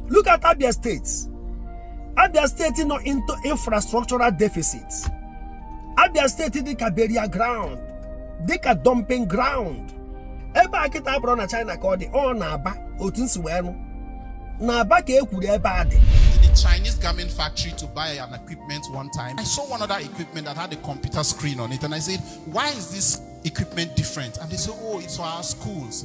Look at Abia State. Abia State nọ into infrastructural deficit. Abia State dịka burial ground, dịka dumping ground. Ebe a kịta abụrọ na China ka ọ dị, ọ n'Aba otu m si wee nụ. N'Aba ka e kwuru ebe a dị. the Chinese garment factory to buy an equipment one time. I saw one other equipment that had a computer screen on it, and I said, Why is this equipment different? And they said, Oh, it's for our schools.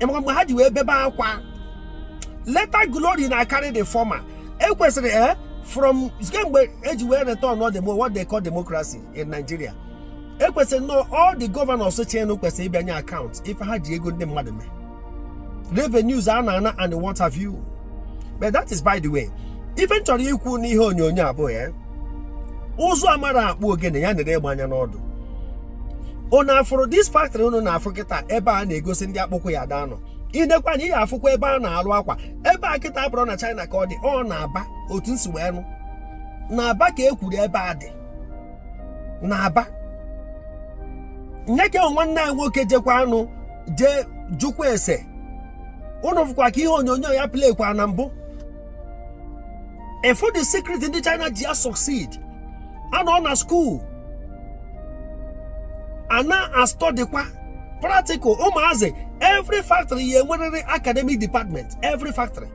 ịmaka mgbe ha ji wee bebe akwa latter glory na-akarị the former ekwesịrị e eh, from kemgbe e ji wee return ọ demo what they call democracy in Nigeria ekwesịrị nnọọ all the governors chịrịnụ kwesịrị ịbịa nye account ife ha ji ego ndị mmadụ mee revenues a na-ana and what have you but that is by the way ife m chọrọ ikwu n'ihe onyonyo abụọ ya eh? ụzụ amarọ akpụ ogene ya nere egbe anya n'ọdụ unu afụrụ this factory unu na-afụ kịta ebe a na-egosi ndị akpụkwụ ya ada nọ i nekwanụ ị ya-afụkwa ebe a na-alụ akwa ebe a kịta abụrọ na China ka ọ dị ọ n'Aba otu m si wee nụ n'Aba ka e kwuru ebe a dị n'Aba nee ka nwanne anyị nwoke jekwaanụ jee jụkwa ese unu fụkwa ka ihe onyonyo ya playkwa na mbụ ị fụ the secret ndị China ji asucceed a nọ na school a na-astudykwa practical ụmụazị every factory ya-enwerịrị academic department every factory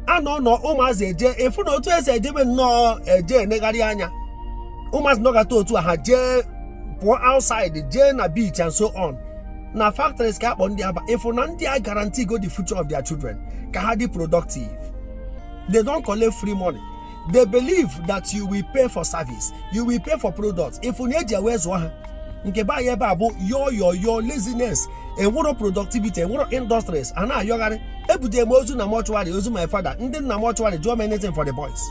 a nọ nọ ụmụazị eje ị fụ na otu e si ejebe nnọọ eje enegharị anya ụmụazị nọgata otu a ha jee pụọ outside jee na beach and so on na factories ka a kpọ ndị a aba ị fụ na ndị a aguarantee go the future of their children ka ha dị productive they don't collect free money they believe that you will pay for service you will pay for products ị fụ na e ji wee zụọ ha nke be anyị ebe a bụ yo yo yo laziness enwerọ productivity enwerọ industries a na-ayọgharị ebutere m ozu na mortuary ozu my father ndị nọ na mortuary jụọ m anything for the boys